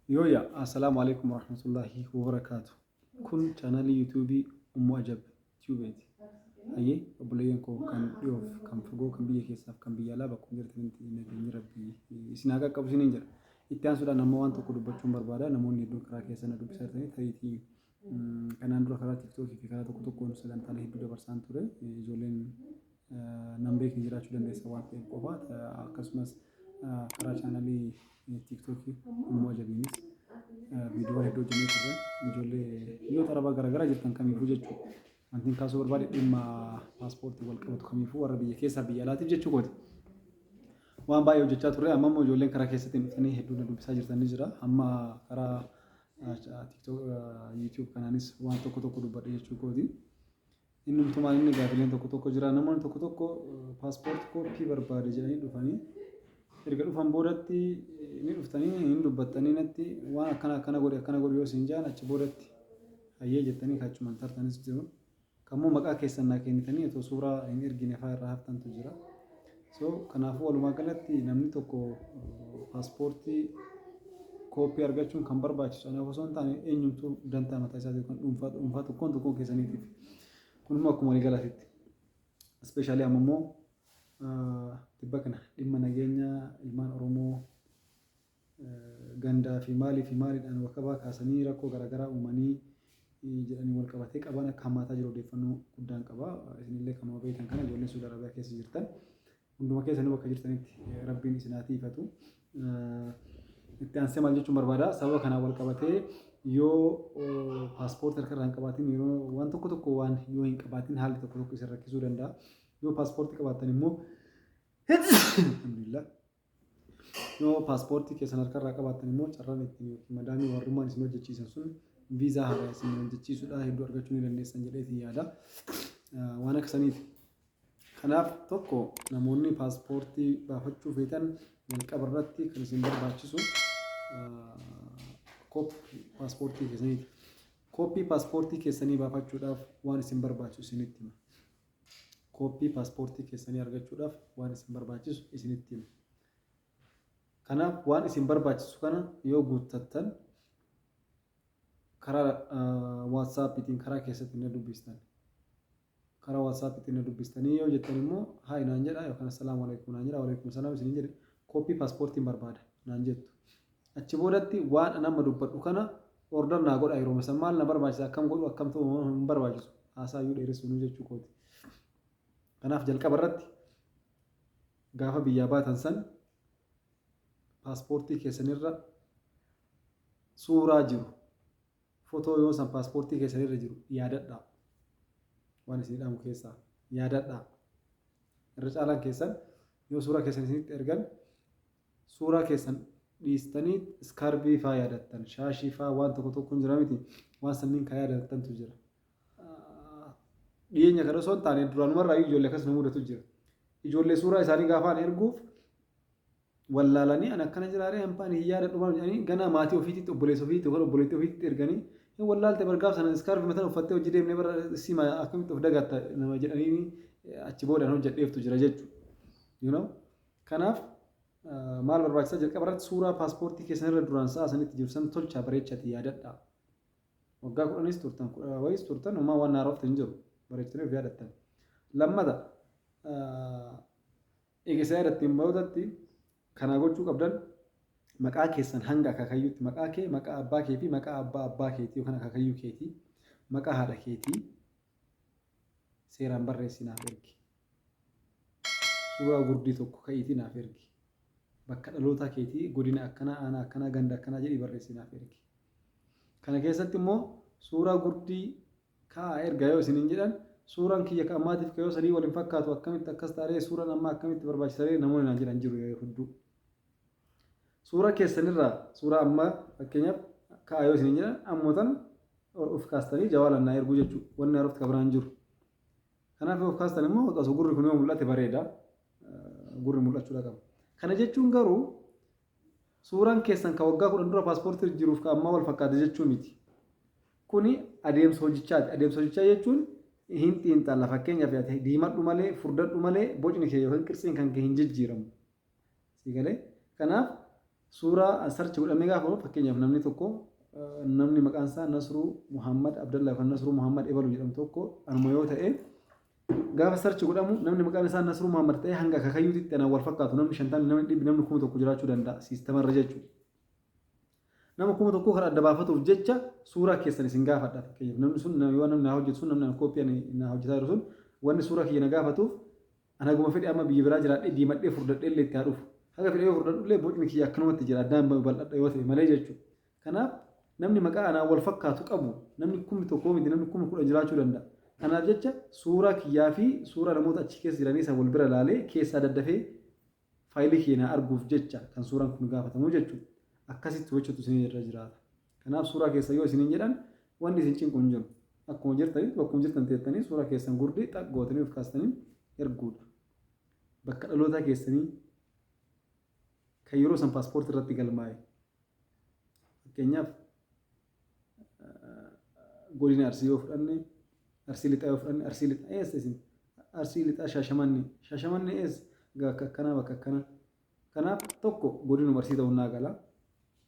Yooya Assalaamu Aleeykum Warahmatullaahi Wabarakaatu Kun Chaanaalii Yuutuubii Ummu Ajab Tubeeti Hayyee Obboleeyyan koo kan dhiyoof kan fagoo kan biyya keessaaf kan biyya alaa bakkuma jirtanitti nageenyi Rabbii isin haa qaqqabu isiniin jedha itti aansuudhaan amma waan tokko dubbachuun barbaada namoonni hedduun karaa keessa na dubbisaa jirtanii tariitii Kanaan dura karaa TikTok fi karaa tokko tokkoon sagantaalee hedduu dabarsaan ture. Ijoolleen nan beekne jiraachuu dandeessa waan ta'eef qofa. Akkasumas karaa chaanalii TikTok immoo ajabiinis viidiyoo hedduu hojjennee turre. Ijoollee biyyoota arabaa garaagaraa jirtan kamiifuu jechuudha. Wanti kaasuu barbaade dhimma paaspoortii wal qabatu kamiifuu warra biyya keessaa biyya alaatiif jechuu kooti. Waan baay'ee hojjechaa turre amma immoo ijoolleen karaa keessatti hin dhufanii hedduu na dubbisaa jirtan ni jira. Amma karaa YouTube kanaanis waan tokko tokko dubbadhe jechuu kooti. Inni umtumaan inni gaafileen tokko tokko jira. Namoonni tokko tokko paaspoorti kooppii barbaade jedhanii dhufanii erga dhufan boodatti ni dhuftanii hin dubbattanii natti waan akkana akkana godhe akkana godhe yoo isin jaan achi boodatti hayyee jettanii kachuman tartanis jiru. Kan immoo maqaa keessan naa keenitanii otoo suuraa hin ergine faa irraa haftantu jira. So kanaafuu walumaa galatti namni tokko paaspoortii kooppii argachuun kan barbaachisu anaaf osoo hin taane eenyumtuu dantaa mataa isaa yookaan dhuunfaa dhuunfaa tokkoon tokkoon keessaniitiif. Kun immoo akkuma walii galaatitti. Ispeeshaalii amma immoo tibba kana dhimma nageenya ilmaan Oromoo gandaa fi maalii fi maaliidhaan wakabaa kaasanii rakkoo garaagaraa uumanii jedhaniin walqabatee qabaan akka hammaataa jiru odeeffannoo guddaan qaba. Isinillee kanuma beektan kana ijoolleen Suudi Arabiyaa keessa jirtan hunduma keessanuu bakka jirtanitti rabbiin isin haa tiifatu. Itti aansee maal jechuun barbaada sababa kanaan walqabatee yoo paaspoortii harka irraa hin qabaatiin yeroo waan tokko tokko waan yoo hin qabaatiin haalli tokko tokko isin rakkisuu danda'a. Yoo paaspoortii qabaattan immoo alhamdulillah Yoo paaspoortii keessan harkarraa qabaattan immoo carraan ittiin yookiin madaamii warrummaan isin hojjechiisan sun viizaa haaraa isin hojjechiisudha hedduu argachuu ni dandeessan jedhee isin yaada. Waan akka saniiti. Kanaaf tokko namoonni paaspoortii baafachuu feetan jalqaba irratti kan isin barbaachisu kooppii paaspoortii keessaniiti. Kooppii paaspoortii keessanii baafachuudhaaf waan isin barbaachisu isinitti hima. kooppii paaspoortii keessanii argachuudhaaf waan isin barbaachisu isinitti hima. Kanaaf waan isin barbaachisu kana yoo guuttattan karaa waatsaappiitiin karaa keessatti na dubbistan. Karaa waatsaappiitiin na dubbistanii yoo jettan immoo haay naan jedha yookaan assalaamu alaikum naan jedha waalaikum salaam isiniin jedhe kooppii paaspoortiin barbaada naan jettu. Achi boodatti waan an amma dubbadhu kana order naa godhaa yeroma san maal na barbaachisa akkam godhu akkam ta'u hin hin barbaachisu haasaa iyyuu dheeressuunuu jechuu kooti. Kanaaf jalqaba irratti gaafa biyyaa baatan san paaspoortii keessan irra suuraa jiru fotoo yoo san paaspoortii keessan irra jiru yaadadhaa. Waan isin dhaamu keessaa yaadadhaa. Irra caalaan keessan yoo suuraa keessan isinitti ergan Suuraa keessan dhiistanii iskaarbii faa yaadattan, shaashii faa waan tokko tokko hin jira miti? Waan sanniin ka yaadatattantu jira. Dhiyeenya kana osoo hin taane duraanumarraa iyyuu ijoollee akkas nu mudatu jira. Ijoollee suuraa isaanii gaafaan erguuf wallaalanii an akkana jiraaree hambaan hin yaadadhu maal jedhanii ganaa maatii ofiititti obboleessa ofiitti yookaan obboleettii ofiitti erganii hin wallaalte bargaaf sana iskaarbii matan uffattee hojii deemnee bara sima akkamitti of dagatta nama jedhanii achi boodaan hojjedheeftu jira jechuudha. You know? Kanaaf maal barbaachisaa jalqaba irratti suuraa paaspoortii keessan irra duraan sa'a sanitti jiru san tolchaa bareechati yaadadhaa. Waggaa kudhanis turtan kudha wayiis turtan homaa waan haarofte hin jiru bareechitanii of yaadattan. Lammata eegisa yaadattiin boodatti kanaa gochuu qabdan maqaa keessan hanga akaakayyuutti maqaa kee maqaa abbaa kee fi maqaa abbaa abbaa keetii yookaan akaakayyuu keetii maqaa haadha keetii seeraan barreessinaaf ergi. Suuraa gurdii tokko ka'iitii naaf ergi. Bakka dhalootaa keetii godina akkanaa, aanaa akkanaa, ganda akkanaa jedhii barreessii naaf ergi. Kana keessatti immoo suuraa gurdii ka'aa ergaa yoo isiniin jedhan suuraan kiyya ka ammaatiif ka yoo sanii wal hin fakkaatu akkamitti akkas taaree suuraan ammaa akkamitti barbaachisaree namoonni naan jedhan jiru yeroo hedduu. Suuraa keessanirraa suuraa ammaa fakkeenyaaf ka'aa yoo isiniin jedhan ammoo tan of kaastanii jawaalaan naa erguu jechuudha. Wanni haarofti ka biraan jiru. Kanaaf yoo of kaastan immoo osoo gurri kun yoo mul'ate bareeda. Gurri mul'achuudha qaba. Kana jechuun garuu suuraan keessan kan waggaa kudhan dura paaspoortii jiruuf kan ammaa wal fakkaata jechuu miti. Kuni adeemsa hojichaati. Adeemsa hojichaa jechuun hin xiinxalla fakkeenyaaf ati diimadhu malee furdadhu malee bocni kee yookiin qirtsiin kan kee hin jijjiiramu. Sii galee? Kanaaf suuraa search godhamee gaafa godhu fakkeenyaaf namni tokko namni maqaan isaa Nasruu Muhammad Abdallaa yookaan Nasruu Muhammad Ebaluu jedhamu tokko anuma yoo ta'e gaafa search godhamu namni maqaan isaa Nasruu Muhammad ta'e hanga akaakayyuutitti anaan wal fakkaatu namni shantamni namni dhibbi namni kuma tokko jiraachuu danda'a siistamarra jechuudha. Nama kuma tokkoo kan adda baafatuuf jecha suuraa keessan isin gaafadha fakkeenyaaf namni sun yoo namni naa hojjetu sun namni kooppii ani naa hojjetaa jiru sun wanni suuraa kiyya na gaafatuuf Ani haguma fedhe amma biyya biraa jiraadhee diimadhee furdadheellee itti haa dhufu. Haga fedhe yoo furdadhullee bocni kiyya akkanumatti jira addaan hin babal'adha yoo ta'e malee jechuudha. Kanaaf namni maqaa anaan wal fakkaatu qabu namni kumni tokkoo miti namni kumni kudhan jiraachuu danda'a. Kanaaf jecha suuraa kiyyaa fi suuraa namoota achi keessa jiranii san wal bira laalee keessaa daddafee faayilii kiyya naa arguuf jecha kan suuraan kun gaafatamu jechuudha. Akkasitti hojjetu isinirra jiraata. Kanaaf suuraa keessan yoo isiniin jedhan wanni isin cinqu hin jiru. Akkuma jirtanitti bakkuma jirtan teettanii suuraa keessan gurdii xaq gootanii of kaastanii erguudha. Bakka dhalootaa keessanii kan yeroo san paaspoortii irratti galmaa'e. Fakkeenyaaf godina Arsii yoo fudhanne, Arsii Lixaa yoo fudhanne, Arsii Lixaa eessa isin? Arsii Lixaa Shaashamannee. Shaashamannee eessa? Bakka akkanaa bakka akkanaa. Kanaaf tokko godinuma Arsii ta'uun naa gala.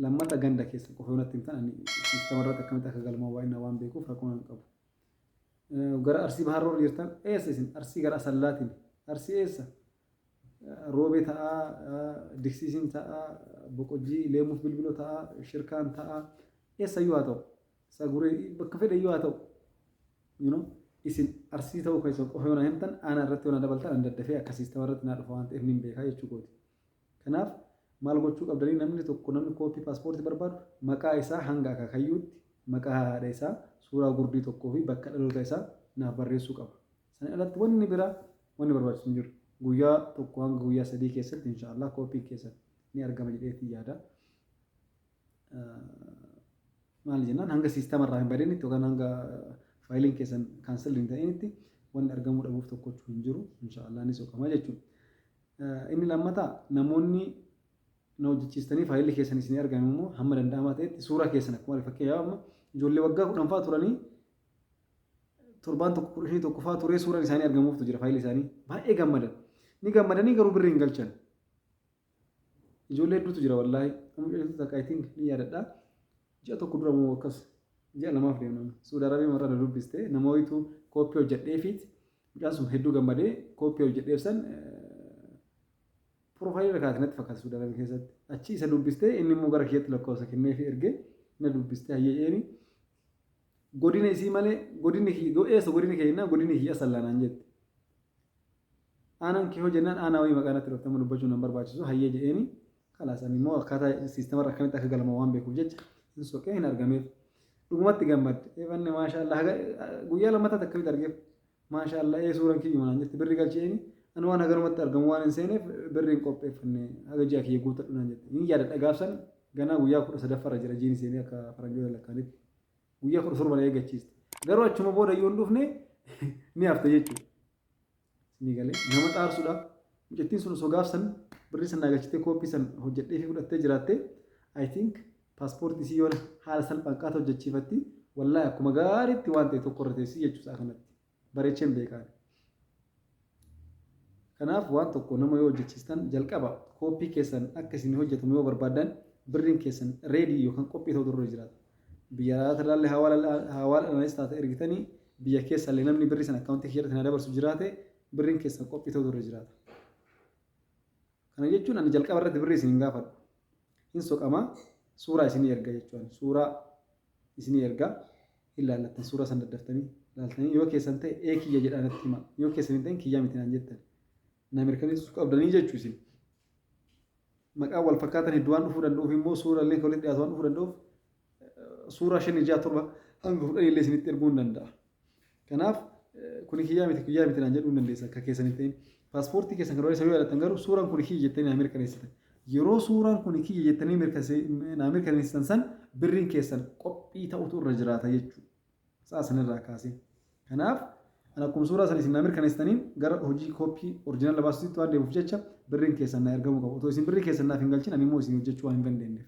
Lammata ganda keessa qofa yoo natti himtan ani siistama irratti akkamitti akka galmaa'u baay'inaan waan beekuuf rakkoo nan qabu. Gara Arsii Bahaarra warri jirtan eessa isin? Arsii gara Asallaatiin. Arsii eessa? Roobee ta'aa, Diksiisiin ta'aa, Boqojjii, Leemuuf Bilbiloo ta'aa, Shirkaan ta'aa, eessayyuu haa ta'u. Saguree bakka fedheyyuu haa ta'u. you know isin arsii ta'uu keessan qofa yoo na himtan aanaa irratti yoo na dabaltan an daddafee akka siistama irratti naa dhufa waan ta'eef nin beekaa jechuu kooti. Kanaaf maal gochuu qabdanii namni tokko namni kooppii paaspoortii barbaadu maqaa isaa hanga akaakayyuutti maqaa haadha isaa suuraa gurdii tokkoo fi bakka dhaloota isaa naaf barreessuu qaba. Sana alatti wanni biraa wanni barbaachisu hin jiru. Guyyaa tokko hanga guyyaa sadii keessatti inshaallah kooppiin keessan ni argama jedheetti yaada. maal jennaan hanga siistama irraa hin badinitti yookaan hanga faayiliin keessan kaansel hin ta'initti wanni argamuu dhabuuf tokkochu hin jiru inshaallah ni soqama jechuudha. Inni lammataa namoonni na hojjechiistanii faayilli keessan isin argame immoo hamma danda'amaa ta'etti suuraa keessan akkuma fakkeenyaaf amma ijoollee waggaa kudhan fa'aa turanii torbaan tokko kudha shanii tokko fa'aa turee suuraan isaanii argamuuftu jira faayilli isaanii baay'ee gammadan ni gammadanii garuu birri hin galchan Ijoollee hedduutu jira wallaahi. Amma dheeressuu takka I think ni yaadadha. Ji'a tokko dura moo akkas ji'a lamaaf deemna. Suudi Arabiyaa marra na dubbiste nama wayitu kooppii hojjedheefiit mucaan sun hedduu gammadee kooppii hojjedheef san piroofaayilii irra kaa'ate natti fakkaata Suudi Arabiyaa keessatti. Achi isa dubbistee inni immoo gara kiyyatti lakkoofsa kennee fi ergee na dubbistee hayyee eeni. Godina isii malee godinni kiyya do eessa godinni kee jennaan godinni kiyya asallaa naan jette. Aanaan kee hoo jennaan aanaa wayii maqaa natti dhofte amma dubbachuun nan barbaachisu hayyee jedheeni kalaas ani immoo akkaataa siistemarra akkamitti akka galma waan beekuuf jecha hin soqee hin argameef. Dhugumatti gammadde eefanne maashaa Allah guyyaa lammattaatti akkamitti argeef Maashaallaa ee suuran kiyyuma naan jette birri galchi eeni ani waan haganumatti argamu waan hin seeneef birri hin qopheeffanne haga ji'a kiyya guutadhu naan jette hin yaadadha gaafsan ganaa guyyaa kudha sadaffarra jira jiini seenee akka faranjoota lakkaanitti guyyaa kudha torba na eeggachiiste garuu achuma booda yoo hin dhufne ni hafte jechuudha ni galee nama xaarsuudha mucattiin sun osoo gaafsan birri san naagalchitee kooppii san hojjedhee fi fudhattee jiraatte I think Passport isii yoona haala salphaan akkaata hojjachiifatti wallahi akkuma gaariitti waan ta'e tokko irra teessii jechuu isaa kanatti bareecheen beekaani. Kanaaf waan tokko nama yoo hojjachiistan jalqaba kooppii keessan akka isin hojjetamu yoo barbaaddan birriin keessan reedii yookaan qophii ta'uu durra jiraata. Biyya alaata ilaalle hawaala dhanis taate ergitanii biyya keessa illee namni birrii sana akkaawuntii kiyya irratti na dabarsu jiraate birriin keessan qophii ta'uu durra jiraata. Kana jechuun ani jalqaba irratti birrii isin hin gaafadhu. hin soqama suuraa isinii erga jechuudhaan suuraa isinii erga hin laallattan suuraa san daddaftanii laaltanii yoo keessan ta'e ee kiyya jedhaa natti hima yoo keessan hin ta'in kiyyaa miti naan jettan na mirkaneessuu qabdanii jechuu isin maqaan wal fakkaatan hedduu waan dhufuu danda'uuf immoo suuraa illee walitti dhiyaatu waan dhufuu danda'uuf suuraa shan ijaa torba hanga kudhan illee isinitti erguu hin danda'a Kanaaf kuni kiyyaa miti kiyyaa miti naan jedhuu hin dandeessan akka keessan hin ta'in. Paaspoortii keessan kan isa yoo yaadattan garuu suuraan kuni kiyya jettanii naa mirkaneessitan. Yeroo suuraan kuni kiyya jettanii naa mirkaneessitan san birriin keessan qophii ta'utu irra jiraata jechuudha. Sa'a sanirraa kaasee. Kanaaf ani akkuma suuraa sana isin naa mirkaneessitaniin gara hojii kooppii orjinaala baasuutti waan deemuuf jecha birriin keessan naa ergamuu qaba. Otoo isin birrii keessan naaf hin galchin ani immoo isin hojjechuu waan hin dandeenyeef.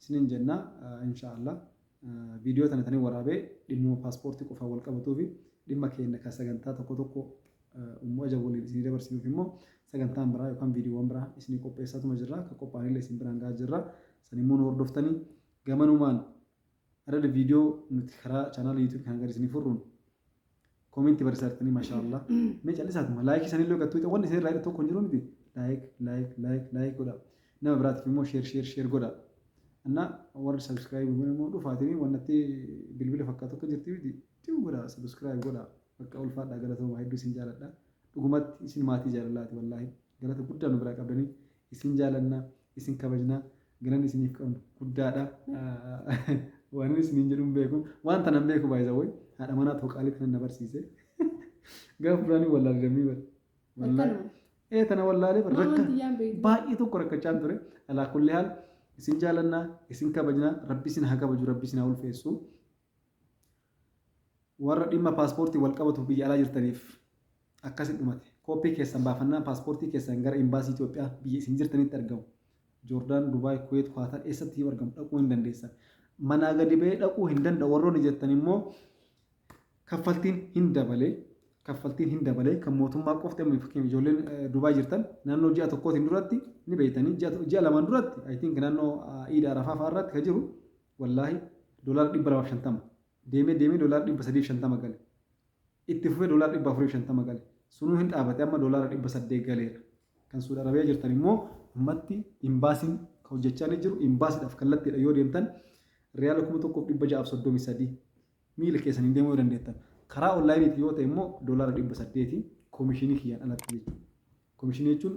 isiniin jenna inshaa Allah viidiyoo tana tanii waraabee dhimmuma paaspoortii qofaan wal qabatuufi dhimma keenya kan sagantaa tokko tokko ummu ajab waliin isinii dabarsinuuf immoo sagantaan biraa yookaan viidiyoowwan biraa isinii qopheessaatuma jirra kan qophaa'anillee isin biraan gahaa jirra san immoo nu hordoftanii gamanumaan Adada video nuti karaa channel YouTube kan gadi isinii furruun comment barreessaa jirtanii masha Allah. Mee callisaatuma like isanillee gattuu ta'e wanni isin irraa hidhu tokko hin jiru miti. Like like like like godha. Nama biraatiif immoo share share share godha. Anna warri subscribe godhan immoo dhufaatiin wannatti bilbila fakkaatu akka jirti miti. Tiu godha subscribe godha. Bakka ulfaadhaa galatooma hedduu isin jaaladha. Dhugumatti isin maatii jaalalaati wallaahi. Galata guddaa nu biraa qabdanii Isin jaalanna, isin kabajna, galanni isiniif qabnu guddaadha. Waanin isiniin jedhu hin beeku. Waan tanan beeku by the way. Haadha manaa too qaalii tanan na barsiise. Gaafa duraanii wallaale dammii bara. Wallaale. Ee tana wallaalee bara. Rakka baay'ee tokko rakkachaan ture. Alaa kulli haal isin jaalanna, isin kabajna, rabbi isin haa kabaju, rabbi isin haa ulfeessu. Warra dhimma paaspoortiin walqabatuuf biyya alaa jirtaniif akkasi dhumate. Kooppii keessan baafannaan paaspoortii keessan gara Imbaasii Itoophiyaa biyya isin jirtanitti argamu, Joordaan, Dubaay, Kuweet, Kuwaatar eessattiyyuu argamu dhaquu hin dandeessan. Manaa gadi ba'ee dhaquu hin danda'u warroonni jettan immoo kaffaltiin hin dabale. Kaffaltiin hin dabale. Kan mootummaa qofti amma fakkeenyaaf ijoolleen Dubaay jirtan naannoo ji'a tokkootiin duratti ni beektanii ji'a lamaan duratti I think naannoo Iida Arafaa fa'aa irratti kan jiru Wallaahi dollar 250 deemee deemee dollar 350 gale itti fufee dollar 450 gale sunuu hin dhaabate amma dollar 800 galeera kan suud arabiyaa jirtan immoo ummatti imbaasiin kan hojjechaa ni jiru imbaasiidhaaf kallattiidha yoo deemtan riyaala 1633 miila keessaniin deemuu yoo dandeettan. Karaa onlaayiniitiin yoo ta'e immoo doolaara dhibba saddeeti koomishinii kiyyaan alatti jechuudha. Koomishinii jechuun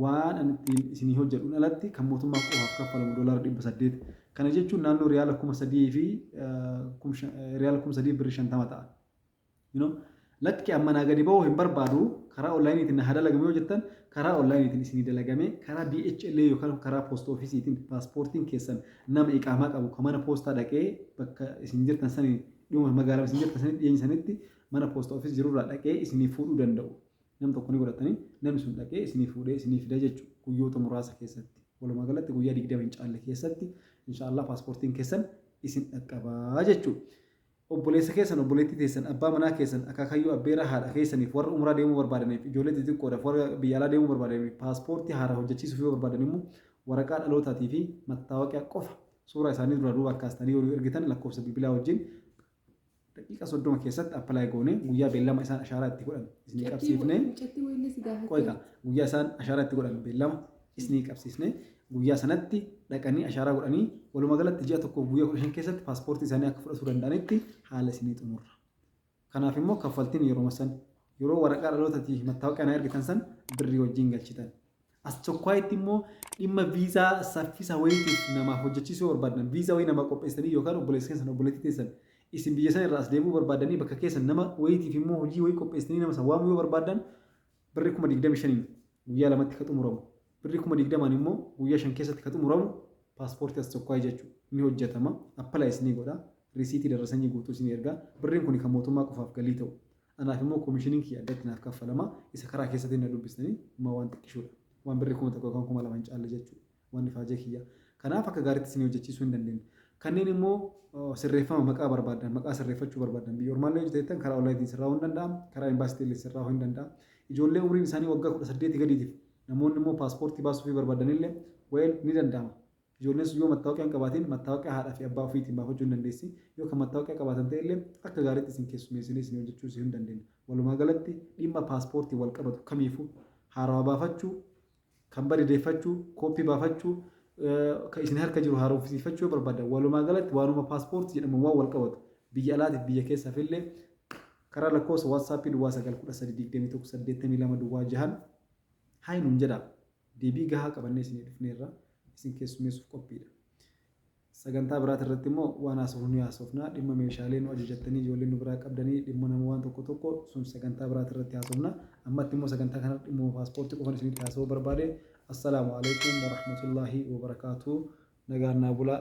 waan ani ittiin isinii hojjedhuun alatti kan mootummaa qofaaf kaffalamu doolaara dhibba saddeeti. Kana jechuun naannoo riyaala kuma sadii fi riyaala kuma sadii birri shantama ta'a. Lakki an manaa gadi bahuu hin barbaadu karaa online tiin na haa dalagamu yoo jettan karaa online tiin isinii dalagamee karaa DHL yookaan karaa post office tiin pasportiin keessan nama iqaamaa qabu ka mana poostaa dhaqee bakka isin jirtan sani dhihuma magaalama isin jirtan sani dhiyeenya sanitti mana post office jiru irraa dhaqee isinii fuudhuu danda'u nam tokko ni godhattanii namni sun dhaqee isinii fuudhee isinii fida jechu guyyoota muraasa keessatti walumaa galatti guyyaa 20 hin caalle keessatti insha Allah pasportiin keessan isin dhaqqabaa jechuu Obboleessa keessan, obboleettii teessan, abbaa manaa keessan, akaakayyuu, abbeeraa, haadha keessaniif, warra umraa deemuu barbaadaniif, ijoollee xixiqqoodhaaf, warra biyya alaa deemuu barbaadaniif, paaspoortii haaraa hojjachiisuuf yoo barbaadan immoo waraqaa dhalootaatii fi mattaawoqiyaa qofa suuraa isaanii duraa duubaan kaastanii yoo nuu ergitan lakkoofsa bilbilaa wajjin daqiiqa 30 keessatti apply goonee guyyaa beellama isaan ashaaraa itti godhan isinii qabsiifnee qoyqa guyyaa isaan ashaaraa itti godhan beellama isnii qabsiisne guyyaa sanatti dhaqanii ashaaraa godhanii walumaa galatti ji'a tokkoof guyyaa 15 keessatti paaspoortii isaanii akka fudhatuu danda'anitti haala isinii xumurra. Kanaaf immoo kaffaltiin yeroo san yeroo waraqaa dhalootatii fi mattaawaqaa na ergitan san birrii wajjin galchitan. As tokkoitti immoo dhimma viizaa saffisa wayiitiif namaaf hojjechiisuu yoo barbaadan viizaa wayii namaa qopheessanii yookaan obboleessa keessan obboleettii teessan isin biyya sana irraa as deebuu barbaadanii bakka keessan nama wayiitiif immoo hojii wayii qopheessanii nama san waamuu yoo barbaadan Birrii kuma 25n guyyaa lamatti ka xumuramu, birrii kuma 20n immoo guyyaa shan keessatti ka xumuramu paaspoortii Aschokkaay jechu ni hojjatama, apply isinii godha, risiitii darrasanyii guutuu isinii erga, birriin kuni ka mootummaa qofaaf galii ta'u, anaaf immoo koomishiniin kiyya addatti naaf kaffalama, isa karaa keessatiin na dubbistanii homaa waan xiqqishoodha, waan birrii kuma tokko yookaan kuma lama hin caalle jechu. Waan ifaajee kiyya. Kanaaf akka gaariitti isinii hojjechiisuu hin dandeenye. Kanneen immoo sirreeffama maqaa barbaaddan, maqaa sirreeffachuu barbaaddan, biyya ormaallee yoo jirtan karaa onlaayiniitiin sirraa'uu hin danda'am, karaa embaasiitiin illee sirraa'uu hin danda'am. Ijoollee umriin isaanii waggaa 18 gadiitiif namoonni immoo paaspoortii baasuufii barbaadan illee well ni danda'ama. Ijoolleen sun yoo mattaawaqaa hin qabaatiin mattaawaqaa haadhaa fi abbaa ofiitiin baafachuu hin dandeessi. Yoo kan mattaawaqaa qabaatan ta'e illee akka gaariitti isin keessummeessinee isinii hojjechiisuu hin dandeenye. Walumaa galatti dhimma paaspoortiin wal qabatu kamiifuu haarawaa baafachuu, Kan bade deeffachuu, copy baafachuu, kan isin harka jiru haaromfisiifachuu yoo barbaadan walumaa galatti waanuma passport jedhamuun waan wal qabatu biyya alaatiif biyya keessaaf illee karaa lakkoofsa WhatsApp duwwaa 9 13 21 82 duwwaa 6n Hi nuun jedhaa. Deebii gahaa qabannee isinii dhufneerra. Isin keessummeessuuf qophiidha. Sagantaa biraati irratti immoo waan haasofnu ni haasofna. Dhimma meeshaalee nu ajajattanii ijoollee nu biraa qabdanii dhimmana waan tokko tokko sun sagantaa biraati irratti haasofna. Ammatti immoo sagantaa kanarratti dhimmuma paaspoortii qofan isinitti haasa'uu barbaade. Assalaamu Aleykum warahmatullaahi wabarakaatuh. Nagaan naa bulaa.